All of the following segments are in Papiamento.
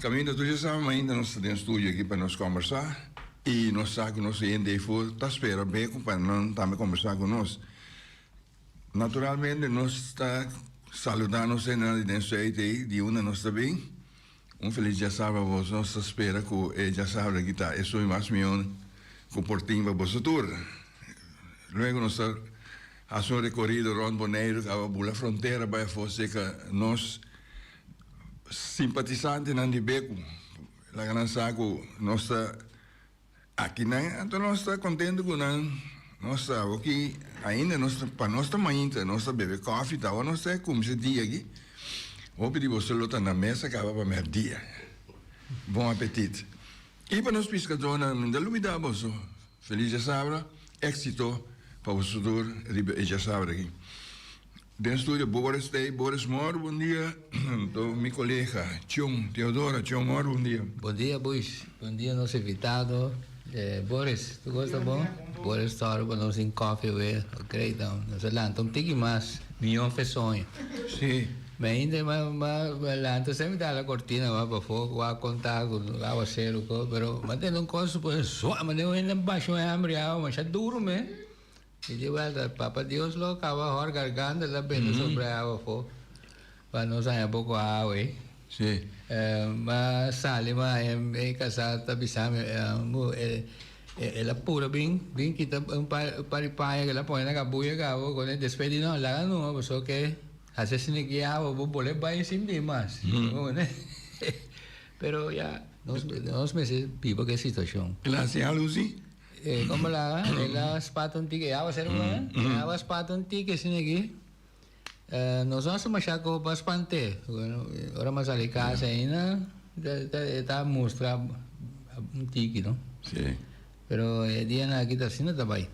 Caminda tur dje sama ainda nos ta den studio aki pa nos combersa y nos sa cu nos hende ey for ta spera beco pa nan tambe combersa cu nos. Naturalmente nos ta saluda nos hendenan di den Zuid ey di unda nos ta bin. Un feliz dje sama pa boso. Nos ta spera cu e dje sama aki ta esun y mas miyon cu por tin pa boso tur. Luego nos ta haci un recorido rond Boneiru caba bula frontera bai afo seca nos simpatisantenan di Beku, laga nan sa ku nos ta aki nan, anto nos ta kontentu ku nan. Nos ta awoki ainda, nos ta, pa nos ta mainta, nos ta bebe kòfi ta awo, nos ta e kumsi dia aki. Hopi di boso lo ta na mes a kaba pa mèrdia. Bon apetit. I pa nos piskadónan, mi ta lumida boso, Feliz Diasabra, éksito pa boso tur riba e Diasabra aki. Den studio Boris Day, Boris Moore, bon dia. To mi colega Chon, Teodora, Chon Moore, bon dia. Bon dia Bois, bon dia nos invitado. Boris, tu goes ta bon? Boris Toro pa nos tin coffee awe, ok dan nos a lanta un tiki mas miyon fe soño. Si. Mi ainda m'a lanta sa mi ta hala cortina mas bafo, cu a conta cu aguacero cu, pero m'a tene un cos cu pone zua, m'a tene un hende basho hembriado masha duro me. I di welta Papa Dios lo a kaba hor garganta ta bini sobra awa afo, pa nos haña poko awa ei. Sí. M'a sali, m'a haña mi kasá, ta bisa mi, Angu, el a pura bin, bin kita un par, un par di paña ku el a pone na kabuya ku awa, kuando e despedi nos, laga nu nomás, pasobra ke hasi asina aki e awa bo bol'é bai sin bin mas. Pero ya, nos, nos mester biba ku e situashon. Klasé algu sí? E komala e la spatu un tiki e awa ser bo eh e awa spatu un tiki asina aki nos no hasi masha koho pa spant'e ora mas sali kasa aina e ta mustra un tiki no pero e dia nan aki ta asina ta bai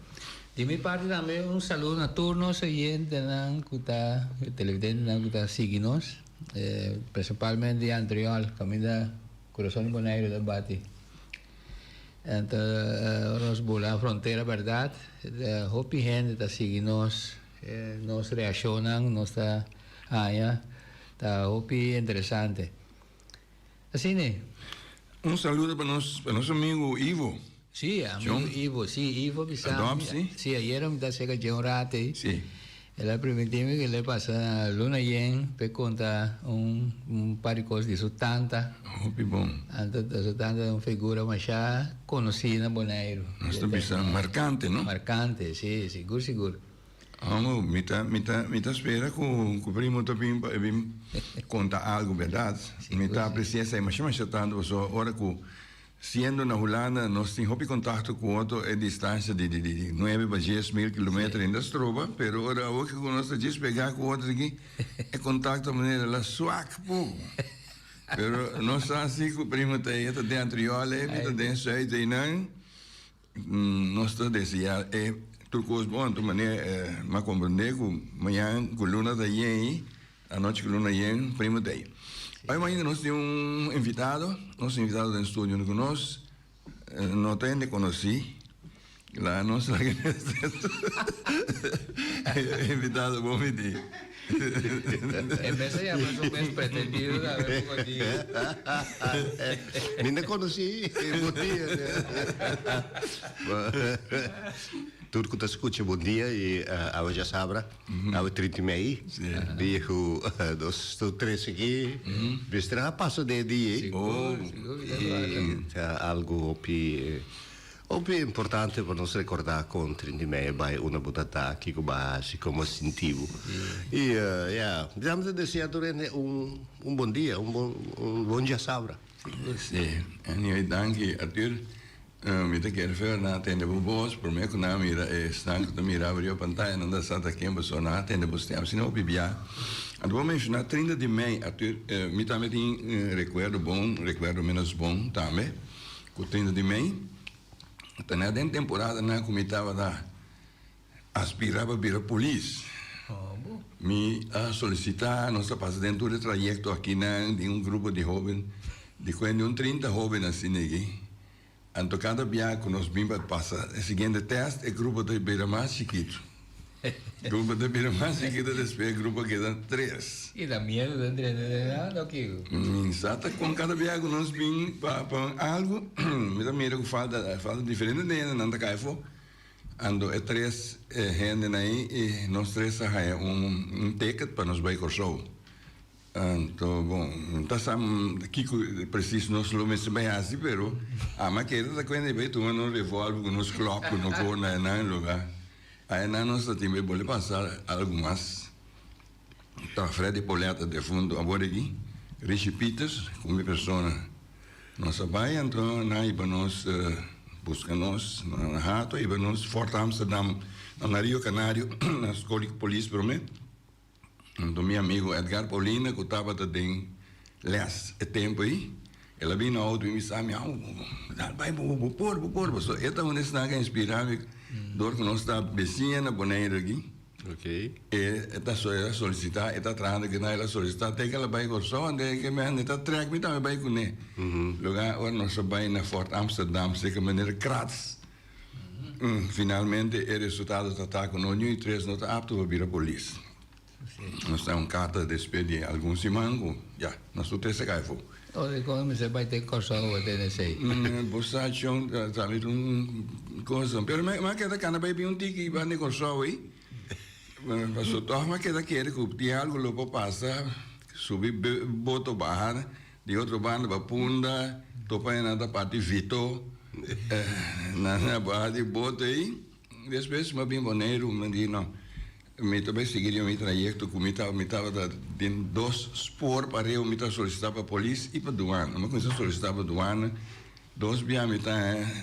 di mi parti tambe un saludo na tur nos oyentenan ku ta televidentenan ku ta sigi nos e prinsipalmente di antriol kaminda kurason di boneiru ta bati. Enta nos bula na frontera berdad, hopi hende ta sigui nos, nos reaccionnan nos ta haña ta hopi interesante. Asina. Un saludo pa nos, pa nos amigo Ivo. Si, amigo Ivo, si, Ivo bisa mi, si, ayera mi ta cerca dje un rato ey, El a primintí mi cu el a pasa na luna yen p'e conta un par di cos di su tanta. Hopi bon. Anto su tanta ta un figura masha conocí na Boneiru. Nos ta bisa marcante, no? Marcante, sí, sigur, sigur. Amo, mi ta, mi ta, mi ta spera cu, cu primo ta bin pa e bin conta algo berdad. Mi ta aprecia esai masha, masha tanto pasobra ora cu Siendo na Hulanda nos tin hopi contacto cu otro e distancia di nuebe pa dies mil kilometer ainda stroba, pero ora awo ke cu nos ta djis pega cu otro aki e contacto manera la suak poco. Pero nos sa si cu primo Thea ta den Antriola ey, mi ta den Zuid ey nan. Nos ta deseá e tur kos bon tur manera. M'a komprendé ku mañan ku luna ta yei, anochi ku luna yen, primo ta ei. Oy mañana nos tin un invitado, nos invitado den studio no ku nos no ta hende konosí. Laga nos laga e invitado bo mití. E mes a yama su mes pretendido ta awe bo con dia. Mi no conoci e bon dia ne. Tur cu ta scucha bon dia y awe dja sabra awe trinta y mei di cu nos tur tres aki bister a pasa den e dia. Sigur sigur y ta algo hopi. Hopi importante pa nos recorda con Trintimeyer bay una bo ta ta, kico bo a haci, como a sinti bo. Y ya, dejamos ta desea tur hende un bon dia, un bon, un bon diasabra. Sí. Anyway, danki Arthur. Mi ta kere feo na tende bo voz. Prome cu nan a mira e snan cu ta miraba riba pantaya, nan ta sa ta ken bo so. Nan a tende bo stem asina hopi bia. Anto bo menciona trinta di mei, Arthur, mi tambe tin recuerdo bon, recuerdo menos bon tambe. Ku trinta di mei, ta na den temporadanan ku mi tabata aspirá pa bira polis. Mi a solisitá, nos a pasa den tur e trayekto akinan di un grupo di hóben, di kuenta di un trinta hóben asina ne'ey. Anto kada bia ku nos bin pa pasa e siguiente tèst, e grupo ta bira mas chikitu. Grupo ta bira mas chiquito despues e grupo keda tres. Y ta miedo den trende den nan oke ho? Minsa ta con cada biaha cu nos bin pa pa un algo mi ta mira cu falta falta diferente de hende nan ta cay afo ando e tres hendenan ayi y nos tres ta haya un un ticket pa nos bay Corsou. Anto, bon, no ta sa kiko presis nos lo mester bai hasi, pero ama keda ta kuente bai tuma nos revòlver ku nos klòk ku no por na esnan e lugá. A esnan nos ta tin bai bole pasa algu mas. Ta Freddy Poletta, defuntu abor di aki, Richie Pieters ku mi persona. Nos a bai, anto nan a hiba nos buska nos na hato, a hiba nos Fort Amsterdam, na Rio Canario, na skol di polis promé. huntu mi amigo Edgar Paulina cu tabata den les e tempo ey, el a bin na auto bin bisami, Au, dal bay bobo, bo por, bo por. Pasobra e ta un esnan cu a inspira mi dor cu nos ta besiña na Boneiru aki. E ta solicita, e ta traha na kinder, el a solicita te cu el a bay Corsou, anto e ke mehen e ta trek mi tambe bay cune. Loke a ora nos a bay na Fort Amsterdam, seke manera Kratz, Finalmente e resultado ta ta cu nos ni un y tres no ta apto pa bira polis. Nos ta un carta despe di algun siman cu ya, nos tur tres a cay afo. Oye, con e mester bay den Corsou bo den esey. Bo sa John ta sali den un cosa, pero mi a keda cana bay bin un tiki banda di Corsou ey, pasobra toch mi a keda kere cu tin algo lo por pasa, subi boto baha. Di otro banda pa punda topa enan ta parti vito na na baha di boto ei despues mi bin Boneiru mi di no mi ta bai sigui riba mi trayekto ku mi taba mi tabata den dos spoor pareho mi ta solisita pa polis i pa duana mi kuminsá solisitá pa duana dos bia mi ta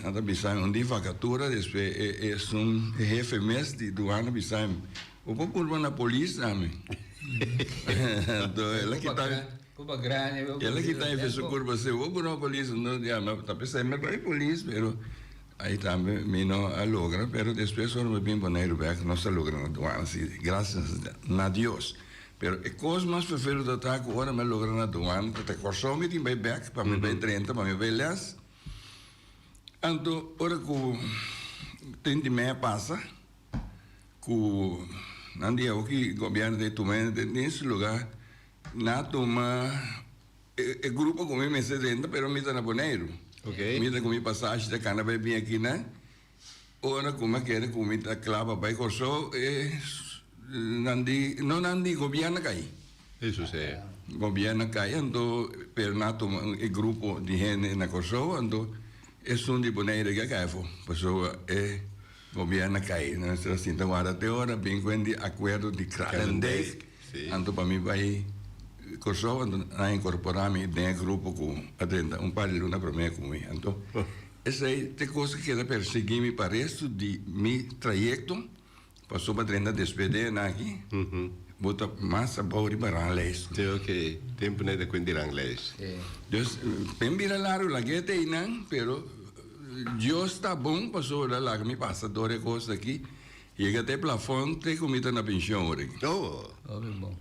nan ta bisa mi un di vakatura despues e e esun e hefe mes di duana bisa mi bo por purba na polis ami anto el a kita mi. Kel a kita e fesun kurpa a seu, Bo no polis? Ya, mi ta pensá mi a bai polis, pero ai tambe mi no a logra, pero despues ora mi bin Boneiru bèk nos a logra na duana, si grasias na Dios. Pero e kos mas ferveroso ta ku ora mi a logra na duana, ta ta Kòrsou mi tin bai bèk pa mi bai drenta, pa mi bai lès, anto ora ku treinta i mei a pasa, ku nan di awo ki gobièrnu ta e tuma e dentins luga. Nan a tuma e grupo ku mi mester renta pero mi ta na Boneiru. Mi ta kumi pasashi ta kana bai bin akinan. Ora ku mi a kere ku mi ta kla pa bai Kòrsou e nan di, no nan di, gobièrnu a kai. Gobièrnu a kai anto pero nan a tuma e grupo di hende na Kòrsou anto esun di Boneiru eki a kai afo pasobra e. Gobierno a kai. Nos ta sinta warda te ora bin ku hen di akuerdo di Kralendijk. Anto pa mi bai Kòrsou anto nan a inkorporá mi den e grupo ku a drenta un par di luna promé ku mi. Anto esei ta e kos ku keda persiguí mi pa restu di mi trayekto pasobra a drenta despues den esaki bo ta mas abou riba ranglijst. Te oke tempu nan e ta kuent di ranglijst. Dus, mi a bira largu lag'e te einan pero. Dios ta bon pasobra laga mi pasa dor e cos aki. Yega ta e plafon te cu mi ta na pension ora aki. Oh,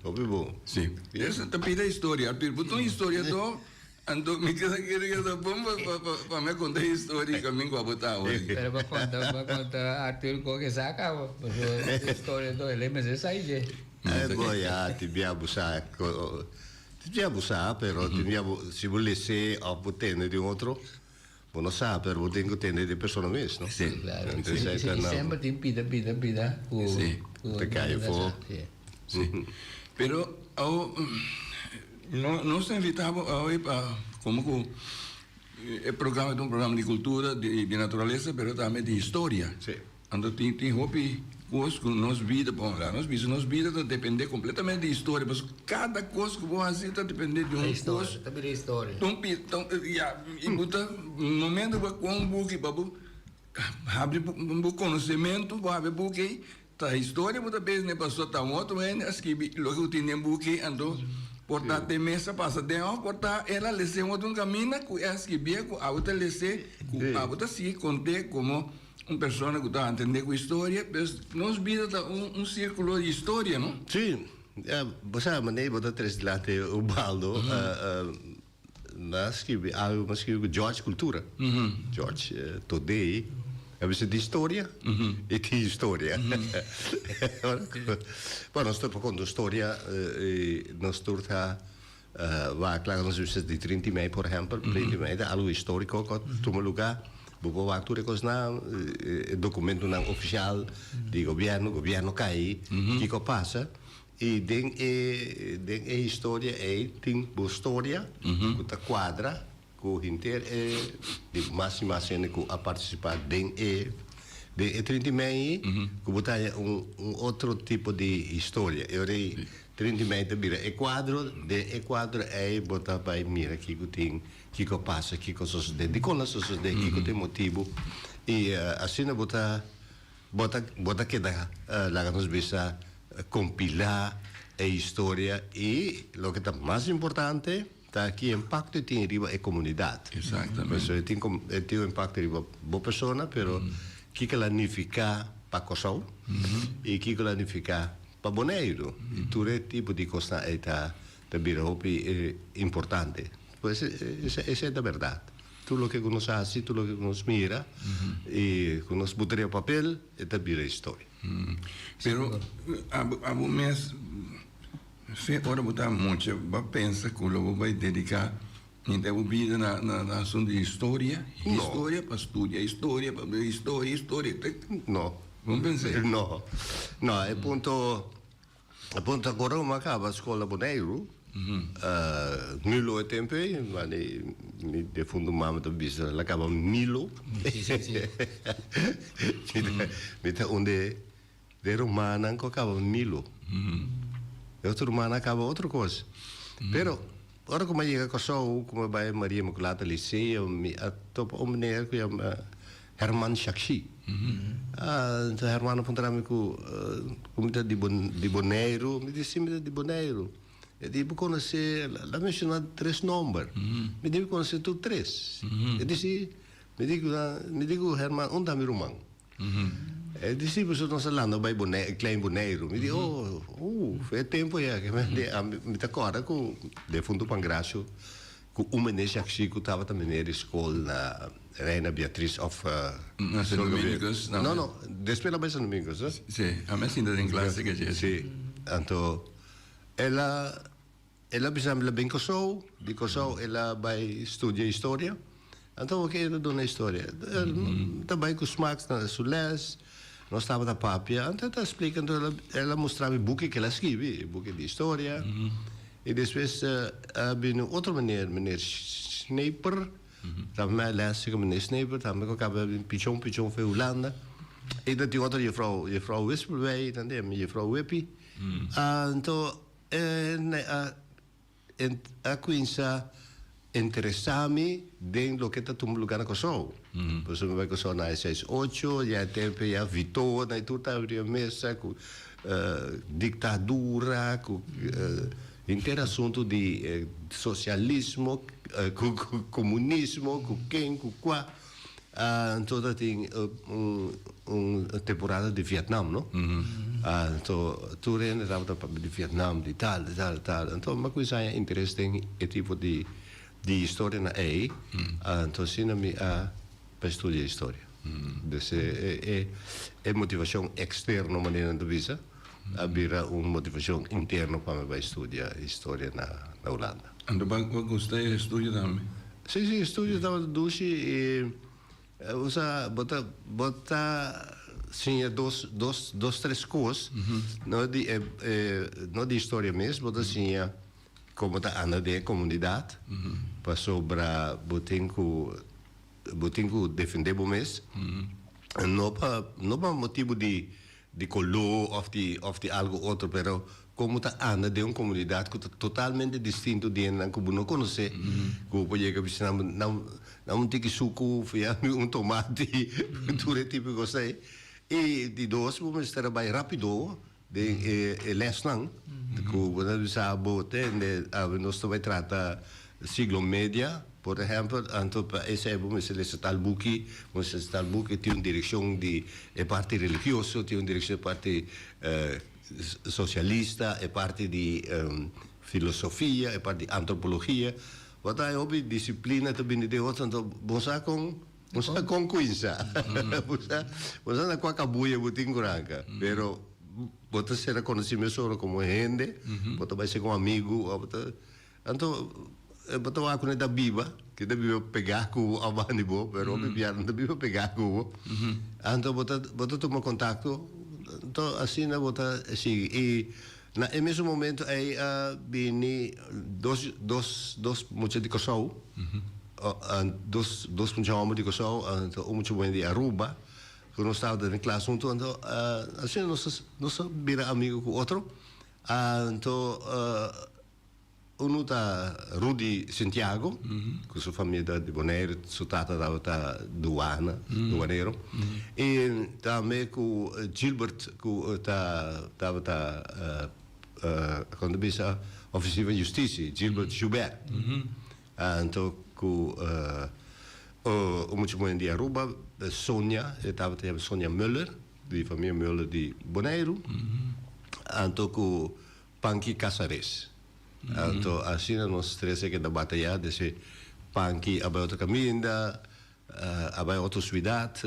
hopi bon. Si. Esa ta pida historia. Pero bo ta un historiador, anto mi ta kere cu ta bon pa mi a conta e historia y camingo a bo ta awa aki. Pero bo conta, bo conta Artur con e sa cabo. Pasobra historiador eley mester sai dje. Bo ya tin bia bo sa, tin bia bo sa, pero tin bia bo, si bo lese of bo tende di un otro. Bo no sa pero bo tin cu tende di persona mes no? Sí. Claro. Ente esai ta na. Semper tin pida pida pida cu. Sí. Cu te cae fo. Sí. Sí. Pero awo no nos ta invita bo awe pa como cu e programa ta un programa di cultura di naturalesa pero tambe di historia. Sí. Anto tin tin hopi kos ku nos bida por honrá nos bisa. Nos bida ta dependé kompletamente di historia, pasobra kada kos ku bo hasi ta dependé di un kos, ta un pia, ta un ya. I bo ta momento ku bo a ku'a un buki pa bo habri bo konosementu, bo habri buki ei, ta historia bo ta bisa n'e pasó, ta un otro hende a skibi loke ku tin den buki ei. Anto por ta te mes a pasa den òf, por ta el a les'é un otro un kaminda ku e a skibia ku abo ta les'é, ku abo ta sigui kont'é komo. Un persona cu ta entende cu historia, pues nos bida ta un circulo di historia, no? Sí, bo sa manera bo ta tres dilanti Ubaldo, na scribi algo, bo a scribi cu George Cultura, George Todei a bisa di historia y tin historia, ora cu nos ta por conta un storia y nos tur ta. Wak laga nos bispes di Trinity Mei por ehempel. Trinity Mei ta algo historico cu a tuma luga. Bo por wak tur e cosnan, e documentonan oficial di gobierno, gobierno cay, kico a pasa. Y den e, den e historia ey tin bo storia cu ta cuadra. Ku henter e di mas i mas hende ku a partisipa den e den e trinta i mei ku bo ta haña un un otro tipo di historia. E ora ei trinta i mei ta bira e kuadro, den e kuadro ei bo ta bai mira kiko tin, kiko a pasa, kiko a sosodé, dikon a sosodé, kiko ta e motibu. I asina bo ta bo ta bo ta keda, laga nos bisa, kompilá e historia i loke ta mas importante, Ta aki e impakto e tin riba e komunidat. Pasobra e tin e tin un impakto riba bo persona, pero kiko la nifiká pa Kòrsou i kiko la nifiká pa Boneiru. I tur e tipo di kosnan ei ta ta bira hopi importante. Pues e esei ta bèrdat. Tur loke ku nos hasi, tur loke ku nos mira i ku nos buta riba papel e ta bira historia. Pero abo mes. Fe ora bo ta mucha, bo pensa cu lo bo bay dedica henter bo bida na asunto di historia? Historia pa studia, historia pa bay historia, historia te. No. Bo no pensa ey? No. No, e punto, e punto ta cora bo a caba scola Boneiru, nu lo e tempo ey, mane mi defunto mama ta bisa la caba Milo, mi ta un de. Den rumannan ku a kaba Milo. E otro rumannan a kaba otro kos. Pero, ora ku mi a yega Kòrsou, ku mi a bai Maria Imakulata Liseo, mi a topa un meneer ku yama Herman Shakshi. Enton Herman a puntra mi ku, ku mi ta di Bo, di Boneiru? Mi di, si, mi ta di Boneiru. E di, Bo konosé, la menshona tres nòmber. Mi di, Mi konosé tur tres. E di, Si. Mi di ku nan, mi di ku Herman, Un ta mi ruman. E disipelnan ta landa bai klein Boneiru. Mi di, Oh, ooh, e tempo ya. Mi ta acorda cu defuntu Pangracio, cu un mene Jacsi cu tabata mene di scol na Reina Beatriz of. Na San Dominguez. No, no, despues na bai San Dominguez, no? Si, ami asinta den clase cachi. Si, anto ela. El a bisa mi la bin Kòrsou, di Kòrsou el a bai studia historia. Anto wak e ta duna historia. El ta bai ku Smax na su lès, nos tabata papia, anto el ta splika, anto el a, el a mustra mi buki ku el a skibi, e buki di historia. I despues a bini un otro meneer, meneer Schneeper, tabata mi a lèse ku meneer Schneeper, tambe ku a kaba bin pichon pichon for e Hulanda. I ta tin otro jefrou, jefrou Wispelwey, tende, mi jefrou Wippie. Anto. E ne a a cuinsa interesa mi den loke ta tumba lugar na Kòrsou. Por eso mi bai Kòrsou na High Size Ocho, y a e tempo ya Vito na e tur ta abri e mesa cu dictadura, cu henter asunto di socialismo, cu comunismo, cu ken, cu cua. Anto ta tin un temporada di Vietnam no anto tur hende tabata papia di Vietnam di tal di tal di tal anto mi a cuminsa haña interes den e tipo di di historia nan ei anto asina mi a bai studia historia des e e motivacion externo manera nan ta bisa a bira un motivacion interno pa mi bai studia historia na Hulanda. Anto bo a gusta e estudio tambe? Si, si, e estudio tabata dushi i o sa bo ta bo ta siña dos dos dos tres kos, no di e e no di historia mes, bo ta siña komo ta anda den e komunidat, pasobra bo tin ku bo tin ku defende bo mes, no pa no pa motibu di di coló of di of di algo otro pero con bo ta anda den un comunidad cu ta totalmente distinto di hendenan cu bo no conocé cu bo por yega bisita nan bo nan nan un tiki sucu fiambe un tomate tur e tipo di cos ei y di dos bo mester a bay rapido den e e lesnan cu bo ta bisa bo tende nos ta bay trata Siglo media, por ehempel, anto pa esei bo mester lesa tal buki, bo mester lesa tal buki, tin un direkshon di e parti religioso, tin un direkshon e parti sosialista, e parti di filosofia, e parti di antropologia, bo ta haña hopi disiplina ta bini den otro, anto bo sa kon, bo sa kon kuinsa, bo sa, bo sa na kua kabuya bo tin ku ranka, pero bo ta ser a konosí mes ora komo hende, bo ta bai ser ku amigu, bo ta. Anto e bo ta wak ku nan ta biba, ke ta biba pegá ku bo aban di bo, pero hopi bia nan ta biba pegá ku bo. Anto bo ta bo ta tuma kontakto, anto asina bo ta e sigui. I na e mesun momentu ei a bini dos dos dos mucha di Kòrsou, dos dos mucha hòmber di Kòrsou, anto un mucha muhé di Aruba, ku nos tabata den e klas huntu, anto asina nos ta nos ta bira amigu ku otro, anto. Unu ta Rudy Santiago cu su famia ta di Bonaire, su tata tabata duana, duanero, y tambe cu Gilbert cu ta tabata con ta bisa oficier van justicia, Gilbert Joubert, anto cu un muchacho moen di Aruba, Sonia, e tabata yama Sonia Muller, di famia Muller di Bonaire, anto cu Pan ki kasares. Anto asina nos tres a keda batayá den se pan ki a bai otro kaminda, a bai otro suidat,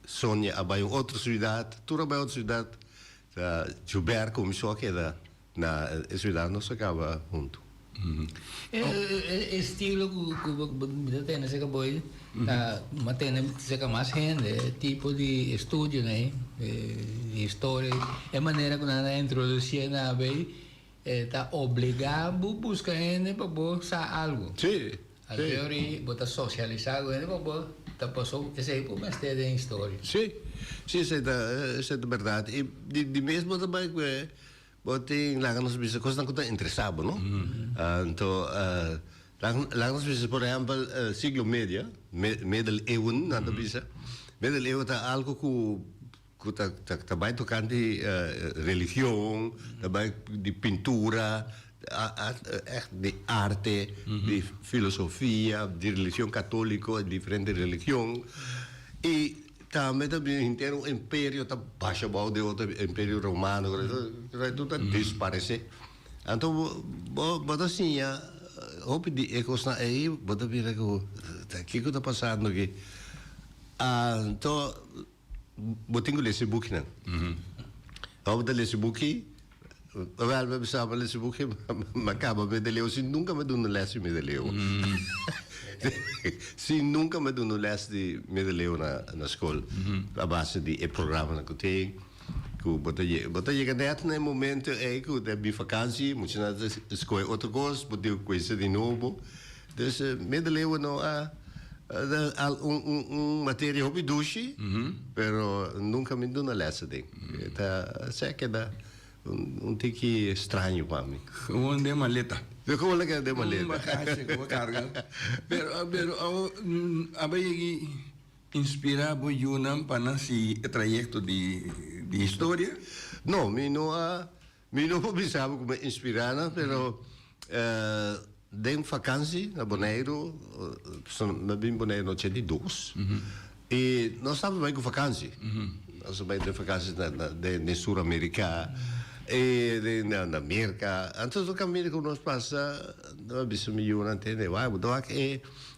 Sonia a bai un otro suidat, tur a bai otro suidat, ta Joubert kuminsó a keda na e suidat nos a kaba huntu. E estilo ku bo ta tene serka bo ei ta manda tene serka mas hende, e tipo di estudionan ei, di historia ei, e manera ku nan a introdusí e naba ei e ta obligá bo buska hende pa bo sa algu. Anterior ei bo ta sosialisá ku hende pa bo ta pasó esei ku bo mester den historia. Sí, sí esei ta bèrdat. I di mes bo ta bai ku e Bo tin laga nos bisa cosnan cu ta interesa bo, no? Anto, laga, laga nos bisa, por ehempel, siglo medio, me, Medeleeuwen, nan ta bisa. Medeleeuwen ta algo cu, cu ta, ta, ta bay tocante religion, ta bay di pintura, a, a, echt di arte, di filosofia, di religion catolico, diferente religion. Y. Tambe ta bini henter un imperio ta basha bou di otro imperio romano ku ato esaki tur ta disparesé. Anto bo bo bo ta siña hopi di e kosnan ei bo ta bira ku kiko ta pasando aki. Anto bo tin ku lesa e bukinan. Ora bo ta lesa e buki. Abel mi a bisa pa lesi buki ma kaba mi ta leu si nunka mi a duna un les di mi ta leu si nunka mi a duna un les di mi ta leu na skol a base di e programanan ku tin ku bo ta yega bo ta yega nèt na e momento ei ku ta bin vakansi muchu nan ta skohe otro kos bo tin ku kuinsa di nobo. Dus medeleeuwen no a al un un materia hopi dushi pero nunka mi duna lèse den e ta se keda un un tiki straño pa mi. Komo den maleta. Be komo lo keda den maleta. Un bagashi ku bo karga pero pero awo a bay yegi inspira bo yunan pa nan sigui e trayekto di di historia? No mi no a Mi no por bisa bo kuma inspirá nan, pero den vakansi na Boneiru, mi a bin Boneiru na ochenta i dos, i nos tabata bai ku vakansi, nos a bai den vakansi den Sur Amerika, i den na Merka, anto tur kaminda ku nos pasa, mi a bisa mi yunan, bo ta wak e.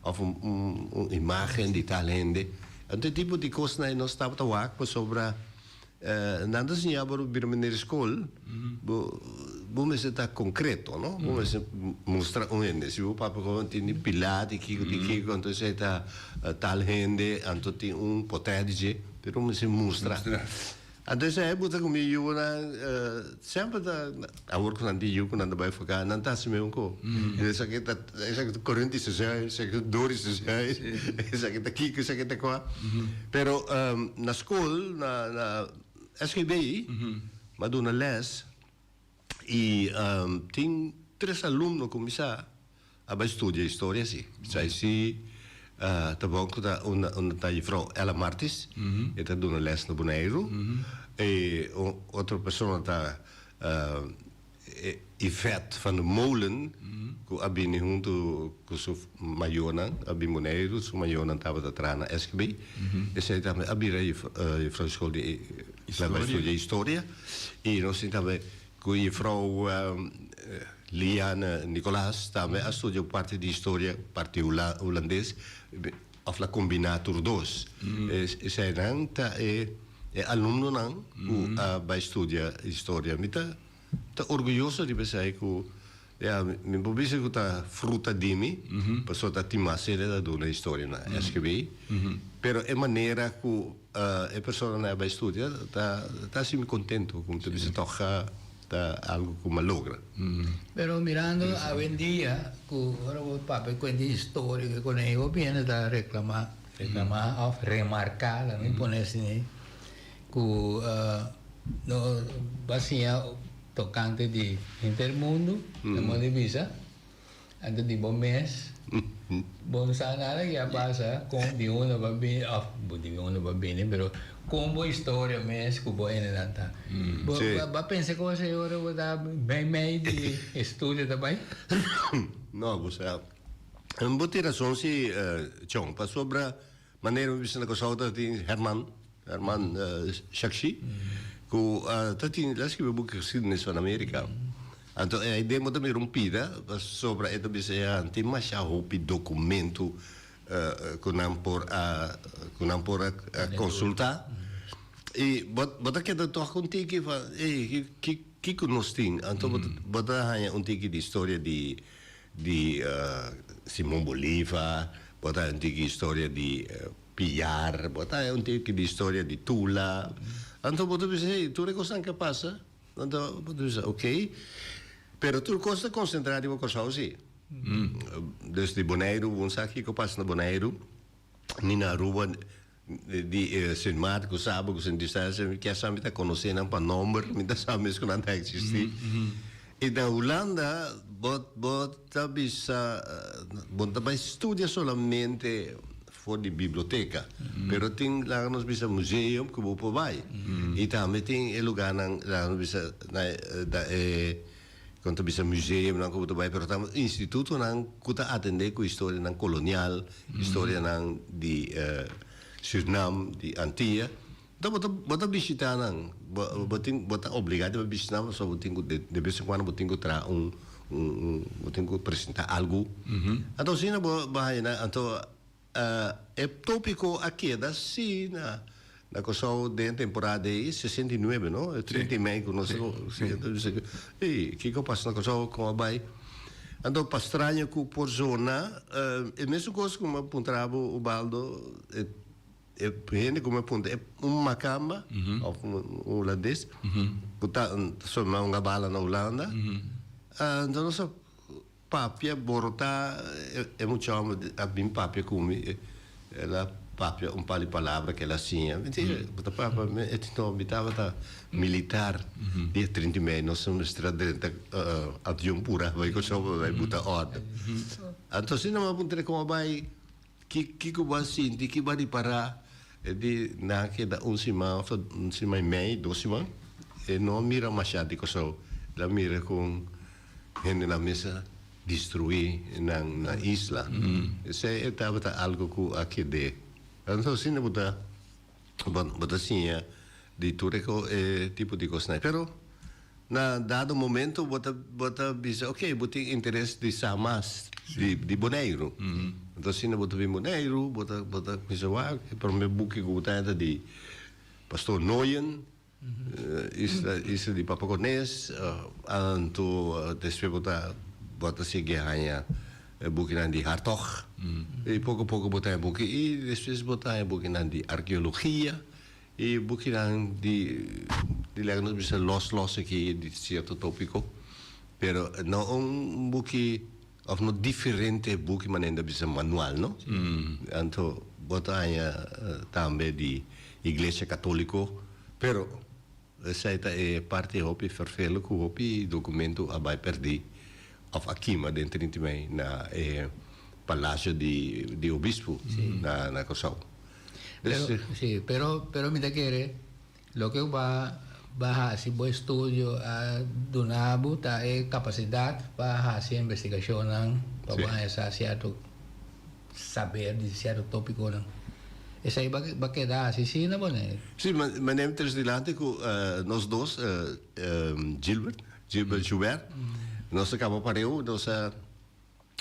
Of un un imagen di tal hende. Anto e tipo di cosnan e nos tabata wak pasobra nan ta siña bo bira manera di scol bo bo mester ta concreto no bo mester mustra un hende si bo papia con tin di pila di kiko di kiko anto esey ta tal hende anto tin un pote di dje pero mester mustra. A ta esei bo ta ku mi yunan semper ta awor ku nan tin yu ku nan ta bai foká nan ta hasi mesun ko i esaki ta esaki ta korenti sesei esaki ta dori sesei esaki ta kiko esaki ta kua pero na skol na na SKB mi a duna lès. Y tin tres alumno cu mi sa a bay studia historia si. Bisai si ta bon cu ta unda ta Juffrouw Ella Martis, e ta duna les na Boneiru. E un otro persona ta Yvette van der Molen cu a bini hunto cu su. Mayonan a bin Boneiru, su mayonan tabata traha na SKB. Esei tambe a bira e jufrou di skol di Laibai Studia Historia. I nos tin tambe ku jufrou Liane Nicolaas tambe a studia un parti di historia, parti hulandes, òf la kombiná tur dos. Eseinan ta e alumnonan ku a bai studia historia. Mi ta Ta orguyoso riba esei ku ya mi por bisa ku ta fruta di mi pasobra ta tin mas seria ta duna historianan e skibi pero e manera ku e personanan a bai studia ta ta hasi mi kontento ku mi ta bisa tòg a ta algu ku mi a logra. Pero mirando awendia ku ora bo papia kuenta historia ku e koneho biende ta reklamá reklamá òf remarká laga mi pone asin'ei. Ku no bai siña tokante di henter mundu, nan mos di bisa antes di bo mes. Bo no sa nada ku ya pasa, kon di un lo bai bini, of bo di un lo bai bini, pero kon bo historia mes ku bo ene nan ta. Bo a pensa ku bai siña ora bo ta meimei di estudio ta bai? No, bo sa. Bo tin rason si, Chon, pasobra. Manera mi bisa na Kòrsou ta tin Herman, Herman Shakshi, ku a ta tin, el a skibi buki geskiedenis van Amerika. Anto e demo tambe rumpida pasobra e ta bisa e a tin masha hopi dokumentu ku nan por a ku nan por a konsultá. I bo bo ta keda tòg ku un tiki van, ey, ki kiko nos tin? Anto bo ta haña un tiki di historia di. di Simon Boliva, bo ta henter ki historia di Piar, bo ta henter ki di historia di Tula, anto bo ta bisa hey tur e kosnan ke pasa, anto bo ta bisa ok, pero tur kos ta konsentra riba Kòrsou si, desde Boneiru bo no sa kiko pasa na Boneiru ni na Aruba. di e Sint Maarten ku Saba ku Sint Eustatius mi kier sa mi ta konosé nan pa nòmber mi ta sa mes ku nan ta eksistí i na Hulanda bo bo ta bisa bo ta bai studia solamente for di biblioteka pero tin laga nos bisa museum ku bo por bai i tambe tin e lugarnan laga nos bisa na e. Kon ta bisa museumnan ku bo ta bai pero ta institutonan ku ta atendé ku historianan kolonial, historianan di Surinam, di Antia. Enton bo ta bo ta bishitá nan. Bo bo tin bo ta obligá di bo bishitá nan pasobra bo tin ku de de bes en kuando bo tin ku traha un un un bo tin ku presentá algu. Anto asina bo bo haña nan anto. E tópiko a keda sí na na Kòrsou den e temporada de ahí, sesenta i nuebe, no? E trinta i mei ku nos a Ey, kiko a pasa na Kòrsou, kon a bai? Anto pa straño ku por zona e mesun kos ku mi a puntara bo, Ubaldo, e e hende ku mi a punta, un Makamba òf un Hulandes ku ta ta sòbi mas un gabala na Hulanda, anto nos a Papia borotá e mucha hòmber a bin papia ku mi el a papia un par di palabra ku el a siña mi di bo ta papia ku mi e tin tohon mi tabata militar di e trinta i mei nos a mester a drenta avion pura bai ku chòmper bai buta òrdu anto asina mi a puntra komo a bai Kiko bo a sinti ki bo a ripará di nan a keda un siman òf un siman i mei, dos siman? E no a mira masha di Kòrsou. El a mira kon hendenan mester destruí nan na isla. P'esei e tabata algu ku a ked'é. Anto asina bo ta. Bon, bo ta siña di tur e tipo di kos n'ai. Pero na dado momento bo ta, bo ta bisa, ok, bo tin interes di sa mas di, di Boneiru. Anto asina bo ta bin Boneiru, bo ta, bo ta kumisa wak. E promé buki ku bo ta henter di Pastor Nooyen. Isla di Papakones, anto despues bo ta bo ta sigui haña e bukinan di Hartog i poko poko bo ta haña buki i despues bo ta haña bukinan di arkeologia i bukinan di di lèk nos bisa lòs lòs aki di sierto tòpiko pero no un buki Of no diferente e buki manera inda bisa manual no. Anto bo ta haña tambe di Iglesia Katoliko pero esei ta e parti hopi fervelo ku hopi dokumento a bai perdí of a kima den trinta i mei na e palasio di obispo na Kòrsou. Pero pero mi ta kere. Loke bo a hasi bo estudio a duna bo ta e kapasidat pa hasi e investigashonnan, pa bo anhesá sierto saber di sierto topikonan. Esei bo keda hasi asina bo ne? Sí, mane mi tres dilanti ku nos dos, Gilbert, Gilbert Joubert, nos a kaba pareu, nos a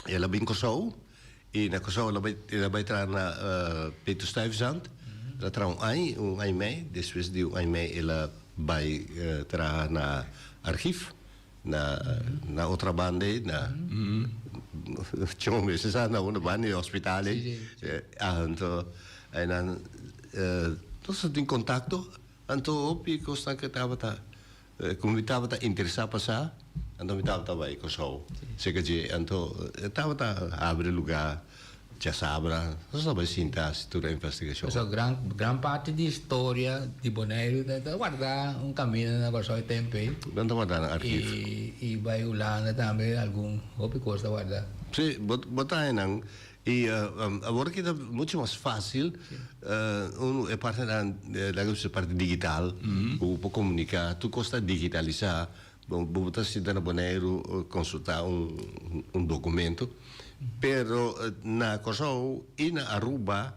El a bin Kòrsou i na Kòrsou el a bai el a bai traha na Peter Stuyvesant. El a traha un aña, un aña mei. Despues di un aña mei el a bai traha na archief na na otra banda ei na Chong mester sa na unda banda ei hospital ei. Anto einan nos a tin contacto anto hopi cosnan ke tabata Como mi tabata interesa pa sa, anto mi tabata bai Kòrsou. Serka dje anto e tabata habri lugá djasabra. Nos ta bai sinta hasi tur e investigashon. Pasobra gran, gran parti di historia di Boneiru ta, ta wardá un kaminda na Kòrsou e tempu ei. Nan ta wardá na arkiv. I, i bai Hulanda tambe algun, hopi kos ta wardá. Sí, bo, bo ta haña nan Y awor ki ta mucho mas fácil unu e partenan laga mi bisa e parti digital ku bo por komunika tur kos ta digitalisá bo por ta sinta na Boneiru konsultá un dokumento pero na Kòrsou i na Aruba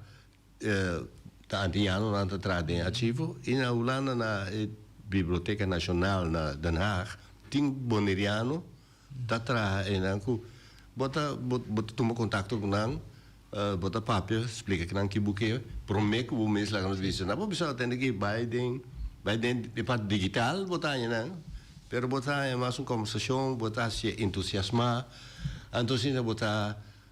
ta antiñando nan ta traha den archivo y na Hulanda na e Biblioteca Nacional na Den Haag tin Boneriano ta traha enan cu bo ta bo bo ta tuma contacto cu nan bo ta papia splica cu nan kibo ke prome cu bo mes laga nos bisa nan bo bisa atende cu bay den bay den e part digital bo ta haña nan pero bo ta haña mas un conversacion bo ta haci entusiasma anto asina bo ta.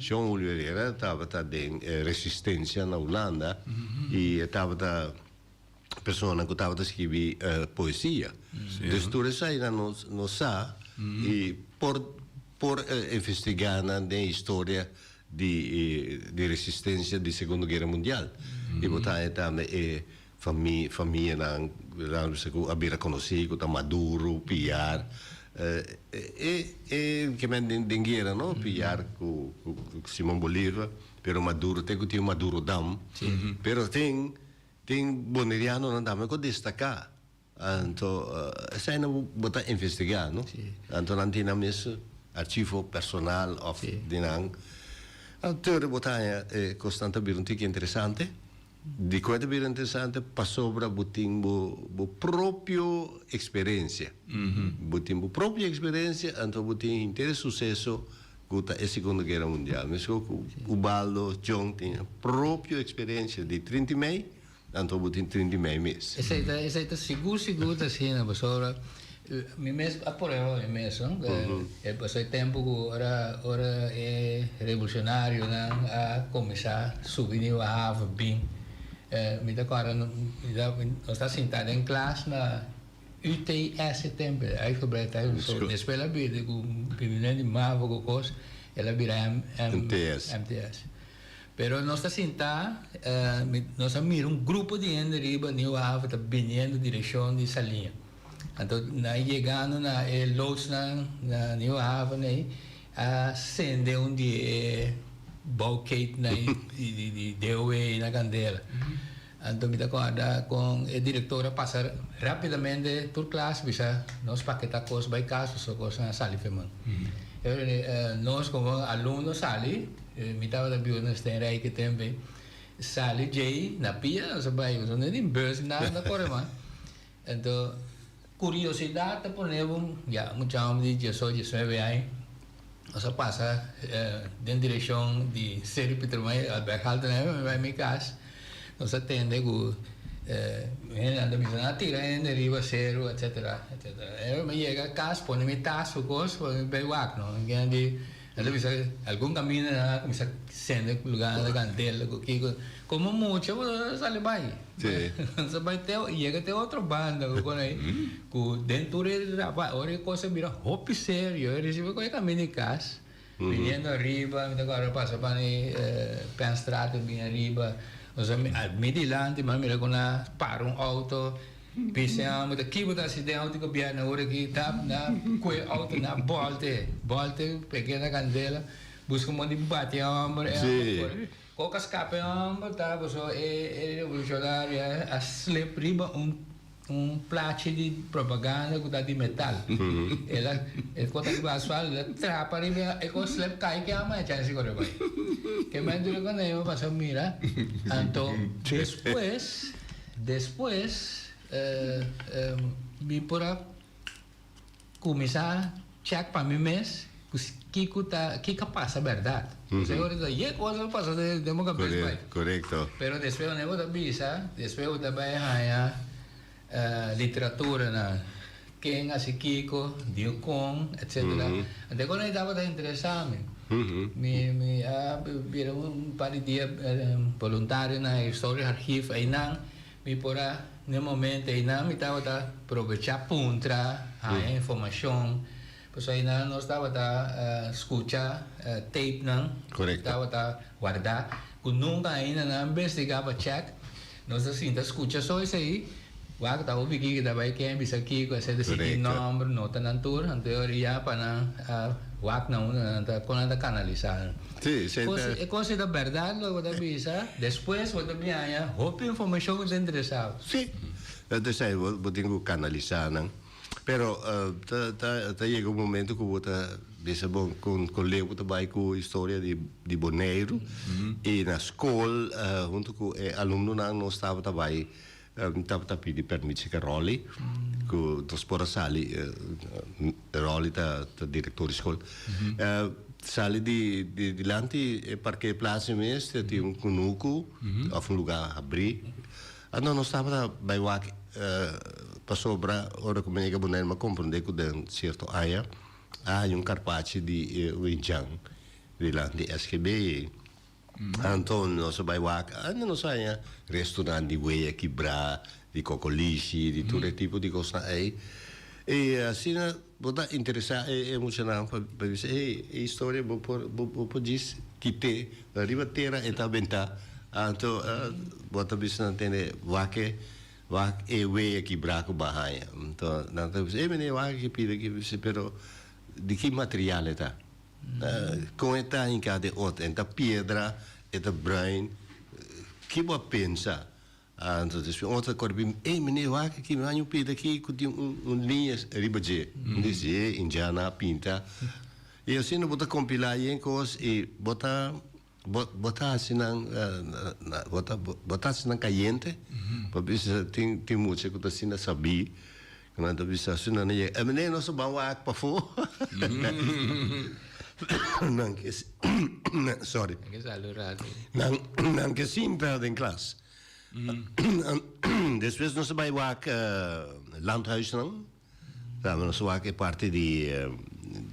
Jean Julio Herrera tabata den e resistencia na Hulanda y e tabata persona cu tabata scribi poesia. Dus tur esai nan nos nos sa y por por investiga nan den historia di di resistencia di Segundo Guerra Mundial y bo ta haña tambe e Famianan ku a bira konosí, ku ta maduru, piar. E ke men den guera no, piar ku Simon Bolívar, pero maduru te ku tin madurodam. Pero tin tin bonerianonan tambe ku a destaká. Anto esei nan bo ta investigá no? Si. Anto nan tin nan mes archivo personal òf Si. di nan. Anto teoria bo ta haña e kosnan ta bira un tiki interesante? Dikon e ta bira interesante? Pasobra bo tin bo bo propio eksperensia. Bo tin bo propio eksperensia anto bo tin henter e suseso ku ta e Segundo Guera Mundial. Meskos ku Ubaldo, John tin propio eksperensia di trinta i mei. Anto bo tin trinta i mei mes. Esei ta esei ta sigur sigur ta asina pasobra mi mes a prueba mi mes no e pasó e tempo ku ora ora e revolucionarionan a kuminsá subi niu a hava bin mi ta kòrda nos ta sintá den klas na UTS e tempo ei high school breed time so despues el a bira di ku primer niu di mavo ku kos el a bira MTS. Pero nos ta sintá, nos a mira un grupo di hende riba Nieuw Haven ta biniendo direkshon di Saliña. Anto nan yegando na e loodsnan na Nieuw Haven ei a sende un di e bouwketennan di DOW ei na kandela. Anto mi ta guarda con e director a pasa rapidamente tur klas bisa nos paketa cos bay caso so cosnan a sali feman. Nos como alumno sali, mi tabata biuda na Steenrijk e tempe, sali djey na pia nos a bay, nos no tin bus nada nos a core mas. Ento, curiosidat ta pone bo, ya mucha homber di dieso, diesnuebe aña, nos a pasa den direccion di Stedelijk Pietermaria, Albert Halte na e bai mi cas, nos a tende cu hendenan ta bisa, nan a tira hende riba seru, etcetera, etcetera. Ora mi yega cas, pone mi tas, su cos, pone mi bek wak, no. Nan ta bisa, Algun kaminda nan a kuminsá sende ku lugá, nan ta gantela ku kiko. Komo mucha bo ta sali bai. Nan ta bai te, yega te otro banda ku kon ei, ku den tur e Rabat, ora e kos a bira hopi serio, e risibi ku e kaminda di kas, biniendo ariba, mi ta kòrda pasa pan e Pennstraat, mi bin ariba, mi di lanti, mi a mira ku nan para un outo. P'esei amo ta kiba ta hasi den auto di gobierno ora aki ta na kue auto na bolte bolte e kenda candela buska un mon di bati e homber e homber por koka scapa e homber ta boso e revolucionario a a slip riba un un plachi di propaganda ku ta di metal el a e ko ta riba asfalt el a trapa riba e ko slip kai ke amo echa hasi kore bai ke mento di konei mi a pasa mira anto despues. Despues mi por a kuminsá chèk pa mi mes ku kiko ta kiko a pasa bèrdat. Pues e ora ta yega kos lo pasa den boka mes bai. Pero despues wanneer bo ta bisa, despues bo ta bai haña literaturanan. Ken a si kiko, diu kon, etc. Ante kon e tabata interesame. Mi mi a bira un par di dia boluntario na historia archief einan mi por a n'e momento einan mi tabata probecha puntra haña informacion. Pasobra nos tabata skucha tapenan ku tabata wardá, ku nunka ainda nan a investigá pa chèk. Nos a sinta skucha so esei, wak ku ta hopi ki kita bai kè bisa kiko, etcétera, si tin nòmber, notanan tur. Anto ora ya pa nan wak na unda nan ta kon nan ta kanalisá nan. E kos ei ta bèrdat lo ku ta bisa, despues bo ta biaña hopi informashon ku ta interesá bo. Si, dat esei bo tin ku kanalisá nan. Pero ta yega un momento ku bo ta bisa bon kon kon leu bo ta bai ku historia di di Boneiru i na skol huntu ku e alumnonan nos tabata bai tabata pidi permisi ke Rolly ku nos por a sali Rolly ta ta direktor di skol sali di di dilanti e parkeerplasi mes ta tin un kunuku of un luga habri Anto nos tabata bai wak pasobra ora ku mi yega Bonaire mi a komprondé ku den sierto aña a haña un karpachi di un ichan rilant di SGB ei. Anto nos a bai wak, ande nos a haña restunan di weya kibrá, di kokolishi, di tur e tipo di kosnan ei. I asina Bo ta interesá e e muchanan pa pa e bisa e e historia bo por bo bo por djis kit'é riba tera e ta bentá anto bo ta bisa nan tende wak e wak e wei aki braku ban haña anto nan ta bisa e mene wak aki pida aki mi bisa pero di ki material e ta kon e ta hinká den ot e ta piedra e ta bruin ki bo a pensa Entonces espe otro a corri pi mi, ey meneer wak aki, mi haña un peda aki cu tin un liña riba dje. Mi di, si, Indiana a pinta. Y asina bo ta compila yen cos y bo ta, bo, bo ta haci nan, bo ta haci nan cayente, pasobra tin, tin mucha cu ta asina, sabí Nan ta bisa así, nan a yega. Emené, nos a ban wak pafó. Nan ke sorry. Nan ke salu rápido. Nan, nan ke simpel den klas. Despues nos a bai wak landhuisnan. Tambe nos a wak e parti di,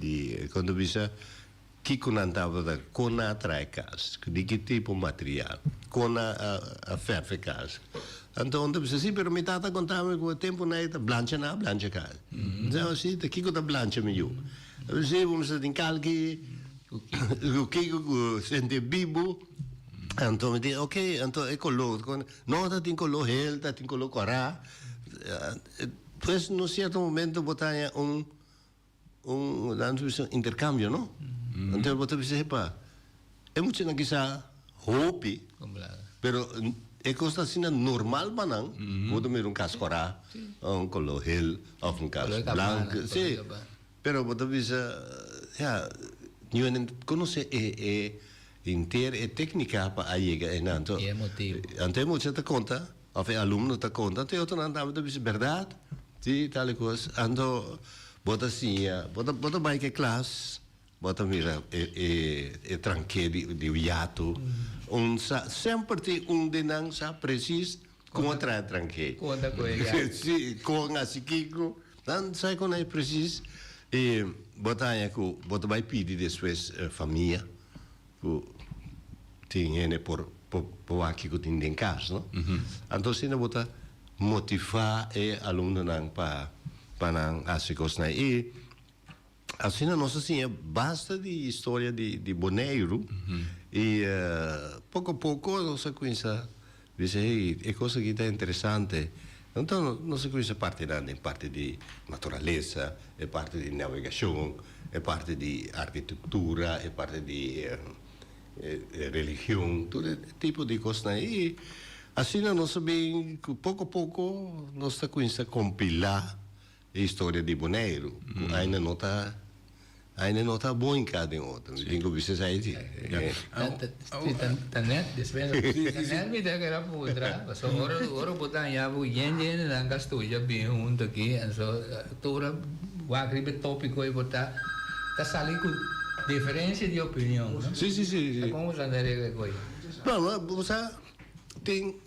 di, kon ta bisa? Kico nan tabata? Con nan a trae cas? Di ki tipo material? Con nan a fefe cas? Anto un ta bisa, si, pero mi tata a conta mi cu e tempo na e ta blancha, nan a blancha cas. Mi bisa, oh, si ta, kico ta blancha mi yu? Mi bisa, si, bo mester tin calki, cu kico cu senti bibu. Anto mi di, ok, anto e color, con? No, ta tin color hel, ta tin color cora. Pues, na un cierto momento bo ta haña un. Un intercambio no entonces bo ta bisa epa e muchanan kisa hopi pero e cos asina normal pa nan bo ta mira un cas cora un color hel of un cas blanco si pero bo ta bisa ya niuwe nan conoce henter e tecnica pa a yega enan to anto e mucha ta conta. Of e alumno ta konta te otronan tambe ta bisa, Bèrdat? Ti tal e kos. Anto bo ta siña, bo ta bai ke klas, bo ta mira e trank'é di un yatu. Un sa, semper tin un di nan sa presis kon a traha e trank'é. Kon ta kohe e yatu. Sí, kon hasi kiko. Nan sa e konai presis. I bo ta haña ku bo ta bai pidi despues famia. ku tin hende por por wak kiko tin den kas no anto asina bo ta motivá e alumnonan pa pa nan hasi kosnan i asina nos a siña basta di historia di di Boneiru i poko poko nos a kuminsá. Bisa ei e cos aki ta interesante. Enton nos a cuminsa parti nan den parti di naturalesa, e parti di navegacion, e parti di arquitectura, e parti di religion, tur e tipo di cosnan ei. Asina nos a bin cu poco poco nos ta cuminsa compila E historia di Boneiru cu aina no ta aina no ta bon encaa den otro. Mi tin cu bisnis ahi si. Ta net despues ta net mi ta keda pudra pasobra ora ora bo daña bo yen di hendenan cu a studia bin hunto aki en so tur ora wak riba e topico ey bo ta ta sali cu diferencia di opinion no. Ta conversando aregla cu ayi. No bo sa tin.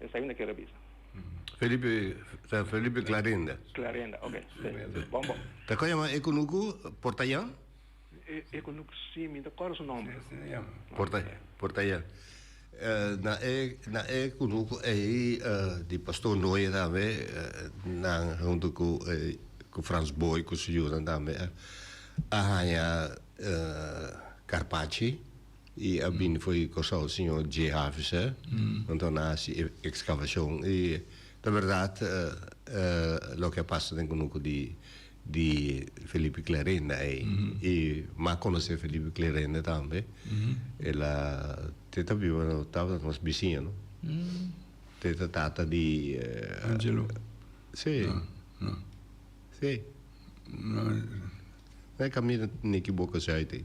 Esai no kier a bisa. Felipe ta Felipe Clarenda. Clarenda, ok. Ta con yama e cunucu? Portayan? E cunucu si, mi no ta corda su nomber. Portayan. Na e na e cunucu ei di Pastor Noe tambe nan hunto cu cu Frans Booi cu su yunan tambe a haya carpachi. I a bini fo'i Kòrsou Siñor J. Havese, nan ta na hasi e ekskavashon. I ta bèrdat loke a pasa den kunuku di di Felipe Clerende ei. I m'a a konosé Felipe Clerende tambe. El a te ta biba no tabata nos bisiño no. Te ta tata di Angelo? Sí. No, no. Sí. No. No e kaminda, mi ekiboka si ai te.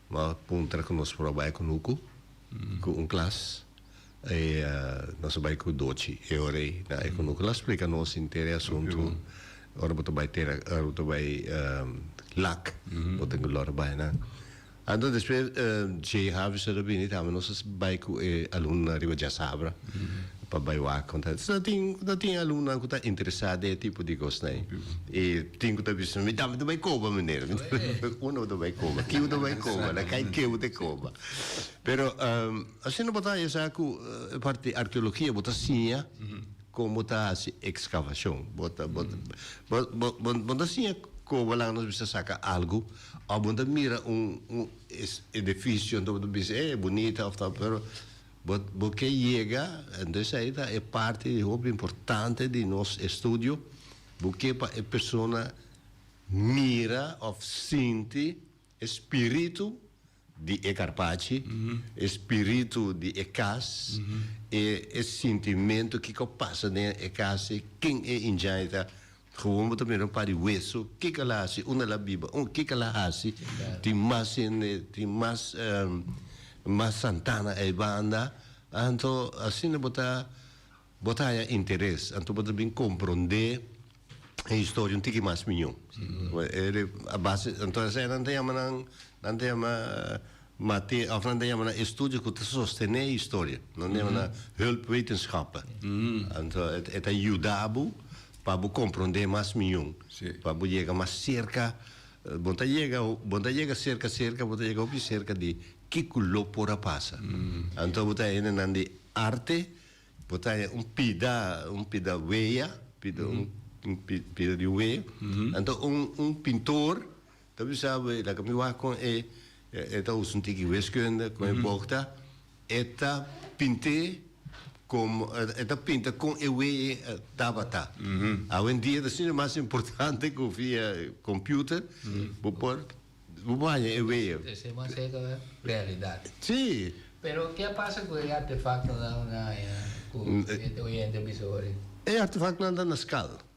Bo a puntra cu nos por a bay cu Nuku, cu un clas. E nos a bay cu Dochi e ora ey na e cu Nuku lo a splica nos henter e asunto. Ora bo ta bay tera, ora bo ta bay lak, bo tin cu lor bay nan. Anto despues Jay Harvester a bini tambe nos a bay cu e alumnonan riba Djasabra. pa bai wak con ta ta tin ta tin alumnonan cu ta interesa den e tipo di cosnan y tin cu ta bisa mi dame ta bai coba meneer mi dame un bo ta bai coba ki bo ta bai coba na cay ke bo ta coba pero asina bo ta esa cu e parti arqueologia bo ta siña con bo ta haci excavacion bo ta bo ta bo bo bo bo ta siña coba la nos bisa saca algo of bo ta mira un un edificio bo ta bisa he bonita of ta pero Bo bo ke yega, entonces ayi ta e parti di hopi importante di nos estudio, bo ke pa e persona mira of sinti e spiritu di e karpachi, e spiritu di e kas, e e sintimentu kiko pasa den e kas ei, ken e injay ta, Gewoon bo ta mira un par di weso, kiko a la hasi? Un a la biba, un kiko a la hasi? Tin mas hende, tin mas, mas Santana eibanda. Anto asina bo ta, bo ta haña interes, anto bo ta bin komprondé e historia un tiki mas mió. Abase, anto esei nan ta yama nan, nan ta yama. Ma te afnan ta yama na estudio ku ta sostené e historia. Nan ta yama na hulpwetenschappen. Anto e ta yuda bo pa bo komprondé mas miun, pa bo yega mas serka. Bo ta yega, bo ta yega serka serka, bo ta yega hopi serka di ke ku lo por a pasa. Anto bo ta hende nan di arte, bo ta haña un pida, un pida wea, pida, un pida di un wea. Anto un un pintor Ta bisa bo e ta ka mi wak kon e e ta usa un tiki weskunda kon e bok ta e ta pinte komo e ta pinta kon e we e tabata awendia ta sinti mas importante ku via komputer bo por bo por haña e we e se mas seka realidat si. Pero ke a pasa ku e artefaktonan ku e oyente a bisa ora e artefaktonan ta na skal.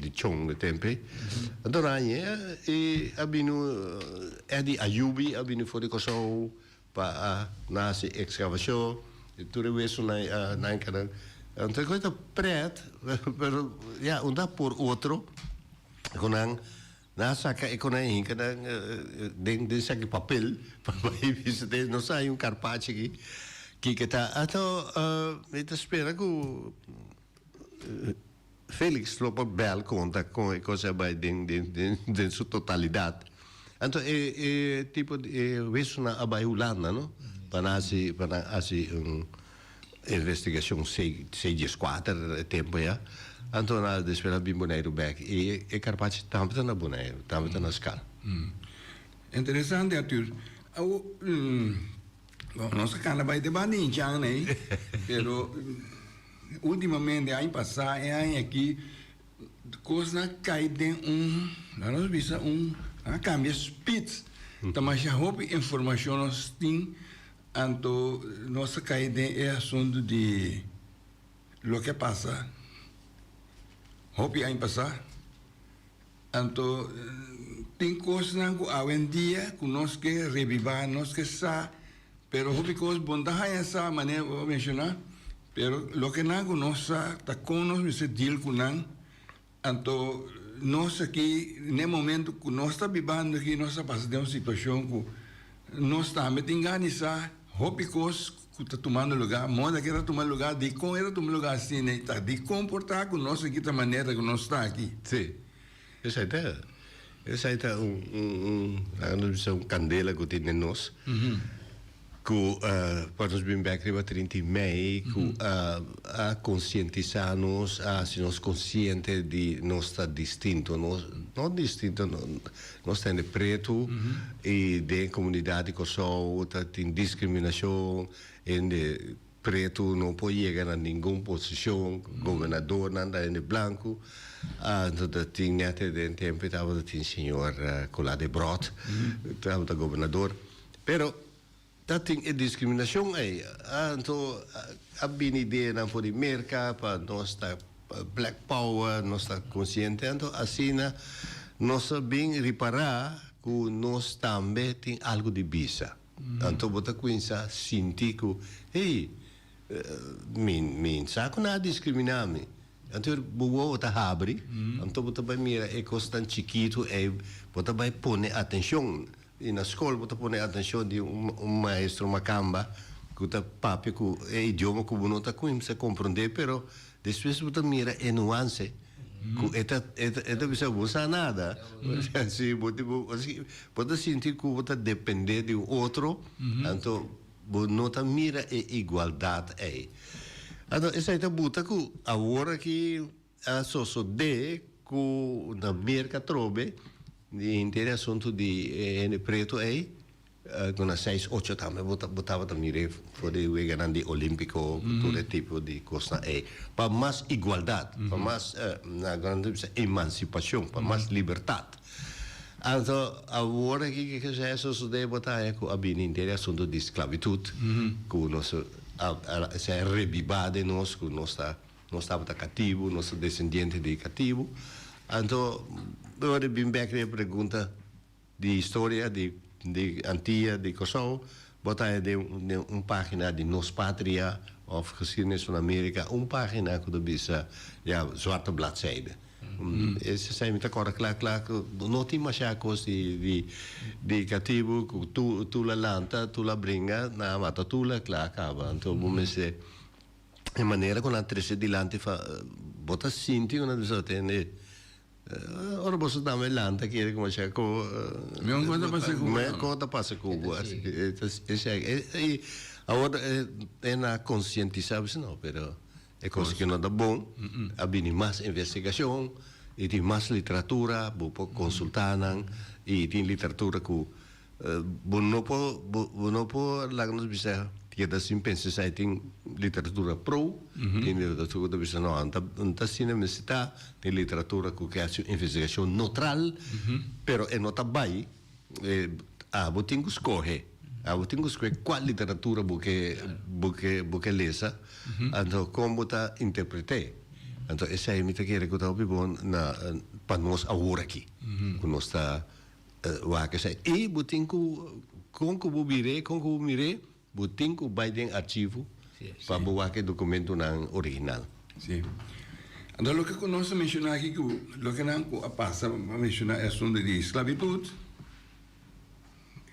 di chong di tempe anto aña e a bini Eddie Ayubi a bini for di Kòrsou pa a na hasi ekskavashon i tur e wesunan i a na enkader anto e kos ta prèt pero ya unda por otro ku nan nan a saka e konai hinka nan den den saki papel pa bai visit'é e nos a hay un karpachi aki kiko ta anto mi ta spera ku. Felix lo por bel conta con e cosa bay den den su totalidad. Anto e e tipo di e huesonan a bay Hulanda no pa nan haci pa nan haci un investigacion se se diescuater e tempo ya. Anto nan despues nan a bin Boneiru bek y e carpachi tambe ta na Boneiru tambe ta na Scal. Interesante Arthur. Awo nos a cana bay debat di Inchan ay pero. Ultimamente, aña pasá i aña aki, kosnan a kai den un, laga nos bisa un, nan a kambia spits. Ta masha hopi informashon nos tin, anto nos ta kai den e asuntu di loke a pasa hopi aña pasá. Anto, tin kosnan ku awendia ku nos ke revivá, nos ke sa, pero hopi kos bon ta haña sa, manera bo a menshoná, pero loke nan ku nos sa ta kon nos mester deal ku nan. Anto, nos aki, n'e momentu ku nos ta bibando aki, nos a pasa den un situashon ku nos tambe tin gana di sa hopi kos. ku ta tumando lugá, moda ke ta tuma lugá, dikon e ta tuma lugá asina i ta, dikon por ta ku nos a kita manera ku nos ta aki. Sí, esei ta esei ta un un un laga nos bisa un kandela ku tin den nos ku kua nos bin bek riba trinta i mei ku a konsientisá nos, a hasi nos konsiente di nos ta distinto, nos no distinto. Nos tende pretu y den comunidad di Kòrsou ta tin discriminacion hende pretu no por yega na ningun posicion gobernador nan ta hende blancu nos ta tin nete den tempo tabata tin señor Colas de Brot tabata gobernador pero Ta tin e discriminacion ey. Anto a bini ideanan for di Merca pa nos ta black power, nos ta consciente. Anto asina nos a bin ripara cu nos tambe tin algo di bisa. Anto bo ta cuinsa sinti cu, hey, mi, mi sa cu nan a discrimina mi. Anto bo wowo ta habri, anto bo ta bay mira e cosnan chikitu ey, bo ta bay pone atencion. Y na scol bo ta pone atencion di un maestro macamba cu ta papia cu e idioma cu bo no ta cuimsa comprende pero despues bo ta mira e nuance cu e ta e ta bisa bo sa nada si bo bo ta sinti cu bo ta depende di un otro anto bo no ta mira e igualdad ey anto esey ta buta cu awor aki. A sosode cu na Merca Trobe, di henter e asunto di e hende preto ey, cu na seis, ocho tambe bo ta, bo tabata mire for di weganan di Olimpico, cu tur e tipo di cosnan ey. Pa mas igualdad, pa mas, na Guanan ta bisa emancipacion, pa mas libertad. Anto, awor aki ke ke sea e sosode bo ta haña cu a bini henter e asunto di sclavitud, cu nos a, a sea rebiba den nos, cu nos ta. Nos tabata katibu, nos ta desendiente di e katibu. Anto, bo a bin bek di e pregunta di historia di di Antia, di Kòrsou, bo ta haya den den un pagina di Nos Patria òf Geschiedenis van Amerika, un pagina ku ta bisa ya zwarte bladzijde. Esei mi ta kòrda kla kla ku no tin masha kos di di di katibu ku tur tur la lanta, tur la bringa, na mata tur la kla a kaba. Anto bo mester e manera ku nan a trese dilanti fa bo ta sinti ku nan bisa bo tende ora boso dam e lanta kere kuma cheka ko ko ta pasa ku bo awor e na konsientisa bisa no pero e kos ku no ta bon a bini mas investigashon i tin mas literatura bo por konsulta nan i tin literatura ku Bo no por bo no por laga nos bisa di ke ta sin pensa esei tin literatura pro tin literatura ku ta bisa no a no ta asina mester ta tin literatura ku ke hasi un investigashon notral pero e no ta bai a bo tin ku skohe a bo tin ku skohe kual literatura bo ke bo ke bo ke lesa anto kon bo ta interpret'e anto esei mi ta kere ku ta hopi bon na pa nos awor aki ku nos ta. Wak esei. I bo tin ku, kon ku bo bir'é, kon ku bo mir'é, bo tin ku bai den archivo pa bo wak e dokumentunan original. Si. Anto loke ku nos ta menshoná aki ku lokenan ku a pasa, bo a menshoná e asuntu di sklabitut,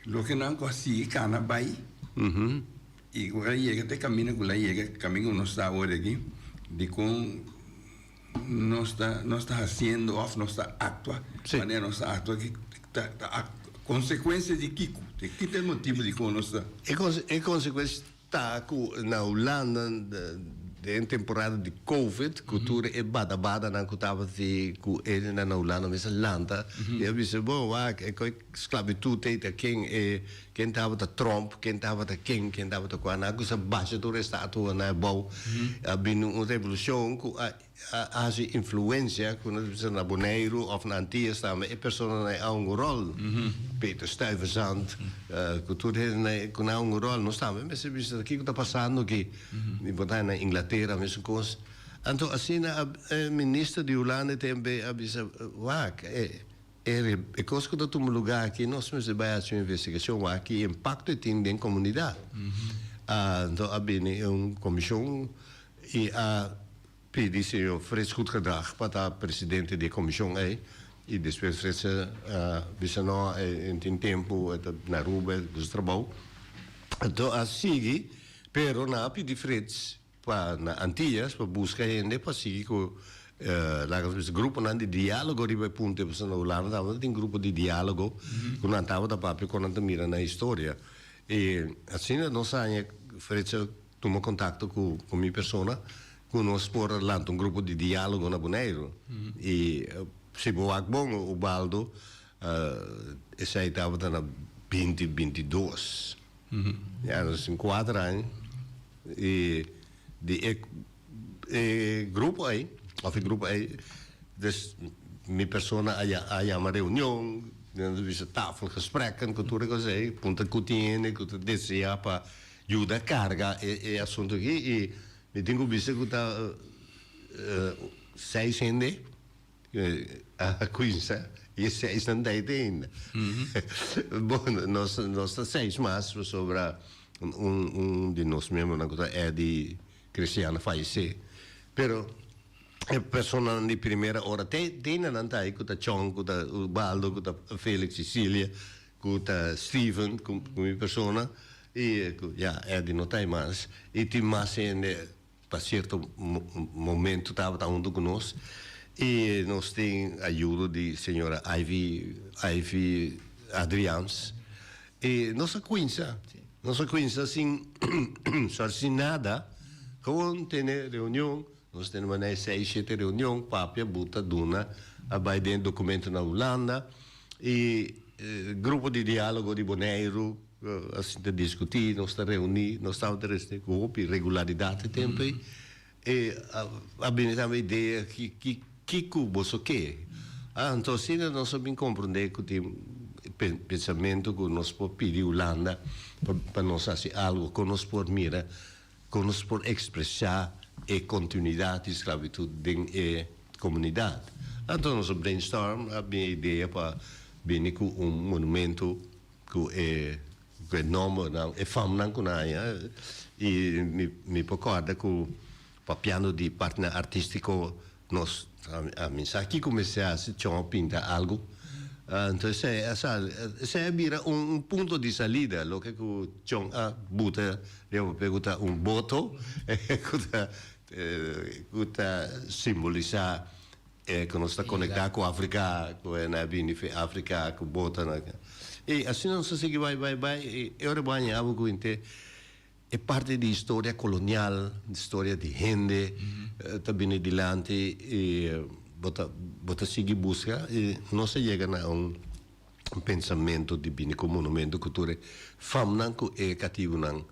lokenan ku a sigui kana bai i ku a yega te kaminda ku el a yega, kaminda ku nos ta awor aki, dikon nos ta nos ta haciendo of nos ta actua si manera nos ta actua ki ta ta a consecuencia di kico di kiko ta e motivo di como nos ta. E con e consecuencia ta cu na Hulanda den e temporada di covid cu tur e bada badanan cu tabata cu ey nan na Hulanda mester lanta y a bisa bo wak e coi Sclavitud t'ei ta ken e, ken tabata Trump, ken tabata ken, ken tabata cua. Nan a cusa basha tur e statua nan e bou. A bini un revolucion cu a a haci influencia cu nos bisa na Boneiru of na Antillas tambe e personanan e a hunga rol. Peter Stuyvesant, cu tur e hende cu nan a hunga rol. Nos tambe mester bisa kico ta pasando aki. Mi por ta na Inglatera mesuncoos. Anto asina a e minister di Hulanda e temp ei a bisa, wak e. Eri e cos cu ta tuma lugar aki, nos mester bay haci un investigacion wak ki impacto e tin den comunidad. Anto a bini un comision y a pidi señor Frits Goedgedrag pa ta presidente di e comision ey y despues Frits a bisa no, e no tin tempo, e ta na Aruba, e ta dusu trabao. Anto a sigui, pero nan a pidi Frits pa na Antillas pa buska hende pa sigui ku laga nos bisa gruponan di dialogo riba e punto e pasobra na Hulanda tabata tin grupo di dialogo ku nan tabata papia kon nan ta mira na historia i asina nos haña Frits a tuma kontakto ku ku mi persona ku nos por lanta un grupo di dialogo na Boneiru i si bo wak bon Ubaldo esei tabata na binti binti dos. Ya nos tin kuater aña i di e e grupo ei òf e grupo ei des mi persona a ya a yama reunion i nos a bisa tafelgesprekken ku tur e kos ei puntra ku tiene ku ta desea pa yuda karga e e asuntu aki i mi tin ku bisa ku ta seis hende. Aha Quinsa, y e seis nan dai te ainda. Bo, nos, nos ta seis mas pasobra un, un di nos miembronan cu ta Eddy Christiana fallecé. Pero e personanan di primera ora te, te ainda nan ta ai, cu ta Chong, cu ta Osbaldo, cu ta Felix y Cilia, cu ta Steven, cu, cu mi persona, y cu, ya, Eddy no ta ai mas. Y tin mas hende pa cierto momento tabata hunto cu nos y nos tin ayudo di señora Ivy Ivy Adriaans y nos a cuinsa nos a cuinsa sin sorry sin nada gewoon tene reunion nos a tene manera di seis shete reunion papia buta duna a bay den documento na Hulanda y grupo di dialogo di Boneiru Asin ta diskutí, nos ta reuní, nos tabata recibi cu hopi regularidad e tempo ei. E a bini tambe idea ki, ki cu boso ke? Ah, anto asina nos a bin comprende cu tin pensamento cu nos por pidi Hulanda pa nos haci algo, con nos por mira, con nos por expresa e continuidad di sclavitud den e comunidad. Anto nos a brainstorm, a bini e idea pa bini cu un monumento. cu e nombernan, e famnan cu nan haya y mi mi por corda cu papiando di partner artistico nos a mi sa kico mester haci chon a pinta algo enton esey a sali esey a bira un un punto di salida loke cu chon a buta riba papel cu ta un boto cu ta cu ta simbolisa E cu nos ta conecta cu Africa, cu e na bini fin Africa, cu bota na ca. Y asina nos a sigui bai, bai, bai, y e ora bo a haña abo cu hinte e parti di historia colonial, di historia di hende ta bini dilanti y bo ta, bo ta sigui busca y nos a yega na un pensamento di bini cu un monumento cu tur e famnan cu e cativonan.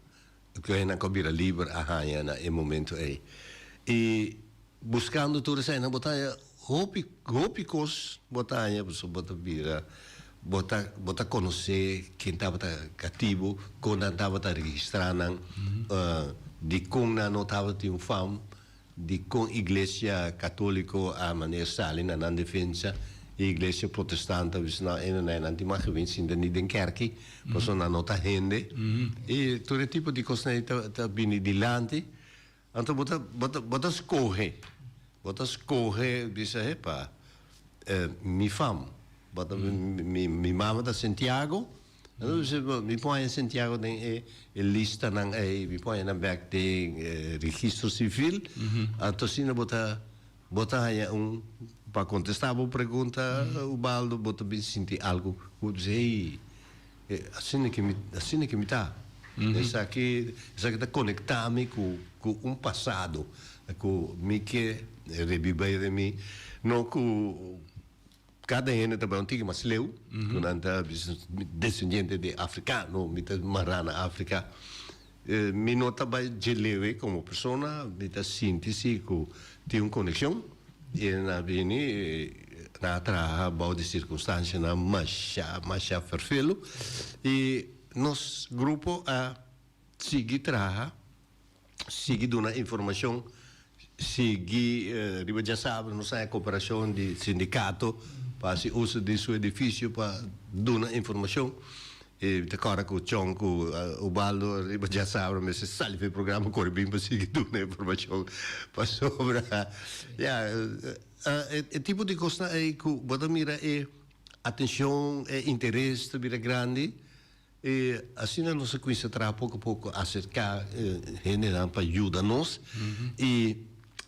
Lo henda cu a bira liber a haya na e momento ey. Y buscando tur esa'ynan bo ta haya hopi, hopi cos bo ta haya pasobra bo ta bira, bo ta, bo ta conoce ken tabata cativo, con nan tabata registra nan, di con nan no tabata tin un fam, di kon Iglesia Katoliko a maner sali na nan defensa i Iglesia Protestant a bisa nan, Eno nae nan tin maki bin sinta ni den kèrki, pasobra nan no ta hende. I tur e tipo di kosnan ei ta ta bini dilanti. Anto bo ta bo ta bo ta skohe, bo ta skohe bisa, epa, mi fam, mi mi mama ta Santiago. Mi pone Santiago den e listanan ei, mi pone nan bek den e registro civil, anto asina bo ta, bo ta haña un, pa contesta bo pregunta Ubaldo, bo ta bin sinti algo cu bo ta bisti hey, e asina ke mi, asina ke mi ta, esaki, esaki ta conecta mi cu, cu un pasado cu mi ke rebiba ei den mi, no cu. Kada hende ta bai un tiki mas leu, ku nan ta desendiente di afrikano, mi ta mará na Afrika. Mi no ta bai dje leu ei komo persona, mi ta sinti si ku tin un konekshon, i nan a bini, nan a traha bou di sirkunstanshanan mashá, mashá ferfelu, i nos grupo a sigui traha. sigui duna informacion sigui riba dja sabra nos haña cooperacion di sindicato pa haci uso di su edificio pa duna informacion y ta cora cu Chong cu Ubaldo riba dja sabra mester sali pa e programa cora bin pa sigui duna informacion pasobra ya e tipo di cosnan ey cu bo ta mira e atencion e interes ta bira grandi E asina nos a cuminsa traha poco poco acerca gendenan pa yuda nos y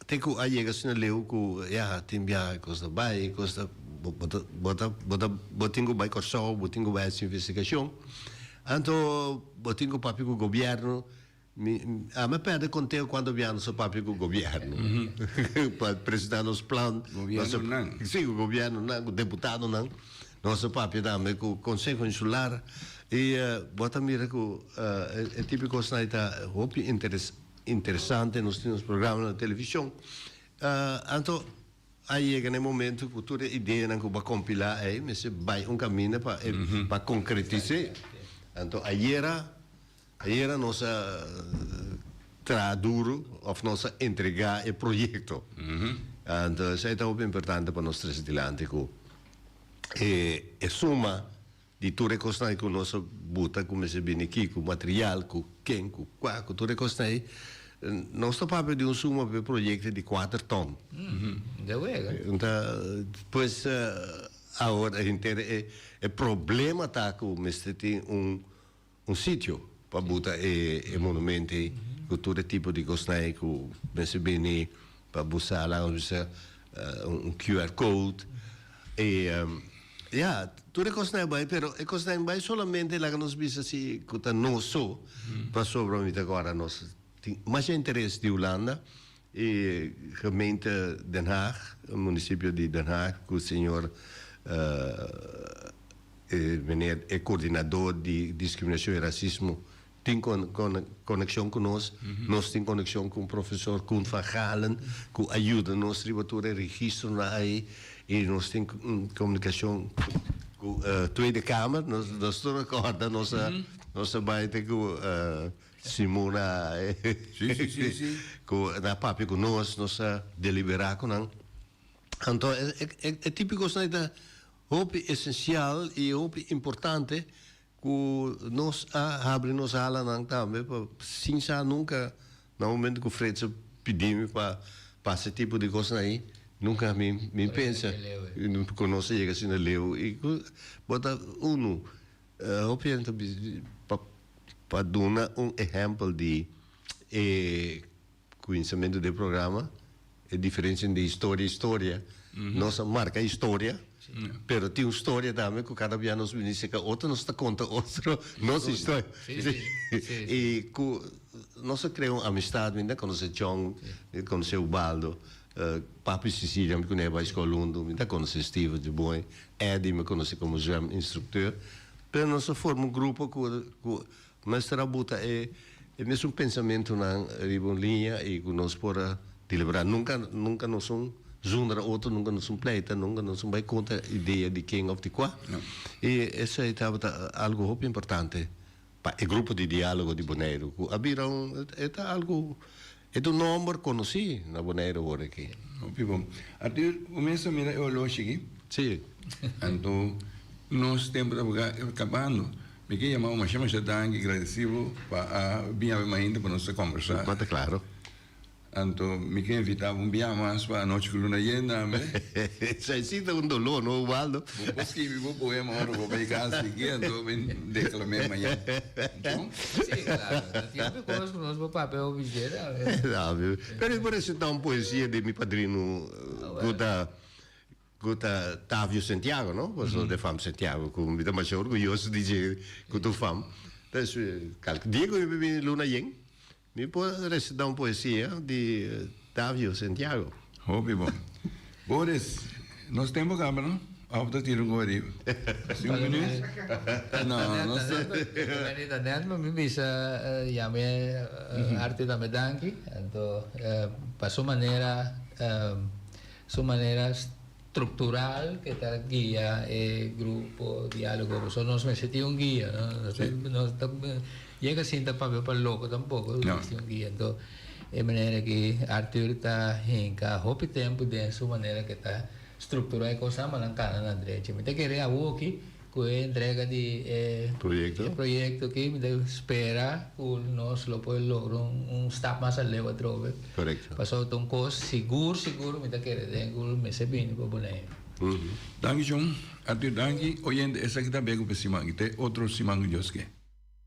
te cu a yega asina leu cu ya tin biaha cu nos ta bay cu nos ta bo ta bo ta bo tin cu bay Corsou bo tin cu bay haci investigacion anto bo tin cu papia cu gobierno. Mi, ami a perde conteo cuanto biaha nos a papia cu gobierno pa presenta nos plan. Gobiernonan. Si, cu gobiernonan, cu deputadonan. Nos a papia tambe cu Conseho Insular. Y bo ta mira cu e tipo di cosnan ei ta hopi interes, interesante. Nos tin nos programa na television. Anto a yega na e momento cu tur e ideanan cu bo a compila ei mester bay un caminda pa e, pa concretis'é. Anto ayera. Ayera nos a traha duru of nos a entrega e proyecto. Entonces ey ta hopi importante pa nos trece dilanti cu e suma di tur e cosnan cu nos a buta cu mester bini ki cu material cu ken cu cua cu tur e cosnan ey nos ta papia di un suma pa e proyecto di cuater ton. Enta pues ahora henter e problema ta cu mester tin un. Un sitio pa buta e monument ei cu tur e tipo di cosnan cu mester bini pa busa la nos bisa un QR code y ya tur e cosnan bay pero e cosnan bay solamente laga nos bisa si cu ta noso pasobra mi ta guarda nos tin masha interes di Hulanda E gemeente Den Haag, municipio di Den Haag, cu señor e meneer e coordinador di discriminacion y racismo tin coneccion cu nos, nos tin coneccion cu profesor Koen van Gaalen cu a yuda nos riba tur e registronan ayi y nos tin comunicacion cu Tweede Kamer, nos ta recorda nos ta bay te cu. Simona cu na papia cu nos, nos ta delibera cu nan. Anto e tipo di cosnan ta hopi esencial y hopi importante cu nos a habri nos alanan tambe pa sin sa nunca na momento cu Fred su pidi mi pa pasa e tipo di cosnan ayi nunca mi mi pensa cu nos ta yega asina leu y cu bo ta uno. Hopi hende ta pa duna un ehempel di e kuinsimentu den e programa, e diferensia entre historia y storia. Nos a marka historia, pero tin un storia tambe ku kada bia nos bini seka otro, nos ta konta otro nos historia. I ku nos a krea un amistad, mi ta konosé Chong, konosé Ubaldo. Papi Sicilia mi cun'e bai escola hundu, mi ta conoce Steven di moe, Eddie mi conoce como zwem instructeur, pero nos a forma un grupo cu cu mester a buta e e mesun pensamentonan riba un liña y cu nos por a delibera, nunca nunca nos un zonder a otro, nunca nos un pleita, nunca nos un bai contra idea di ken of di cua, y esai tabata algo hopi importante Pa e grupo di dialogo di Boneiru cu a bira un, e ta algo, e ta un nomber conoci na Boneiru ora aki. Hopi bon. Artur, bo mes a mira e horloshi aki? Si. Anto, nos tempo ta paga cabando. Mi ke yama bo masha masha danki, gradeci bo pa a bin hab'e mainta pa nos ta combersa. Bo ta claro. Anto mi ke invitá bo un biaha mas pa Anochi ku Luna Yenda tambe. Esei si ta un doló, no, Ubaldo? Bo por skibi bo poema ora bo bai kasa aki, anto mi deklam'é mañana. Djon? Sí, klaru. Ta siempri ku nos, ku nos bo papia oficié tambe. Tambe. Pero i por resitá un poesia di mi padrinu ku ta, ku ta Tavio Santiago, no? Pasobra ta e Fam Santiago ku mi ta masha orguyoso di dje ku ta un fam. Diego mi bini Luna Yen. Mi por recita un poesia di Davio Santiago. Hopi bon. Boris, nos tempo caba no? Of ta tira un goe riba? Así un minuut? No, nos ta. Meni ta net pero mi bisa ya mi harti tambe danki. Anto pa su manera, su manera. Structural ke ta guia e grupo dialogo pasobra nos mester tin un guia no nos ta yega sinta papia pa loco tampoco nos mester tin un guia enton e manera aki Arthur ta hinca hopi tempo den su manera ke ta structura e cos nan mandan cana nan derecho mi ta kere awo aki. Cu e entrega di e proyecto aki mi ta spera cu nos lo por logra un stap mas aleu atrobe, pasobra ta un cos sigur sigur mi ta kere den cu lo mester bini pa Bonaire. Danki John. A tur danki oyente esaki ta Bekupe siman y te otro siman ku Dios ke.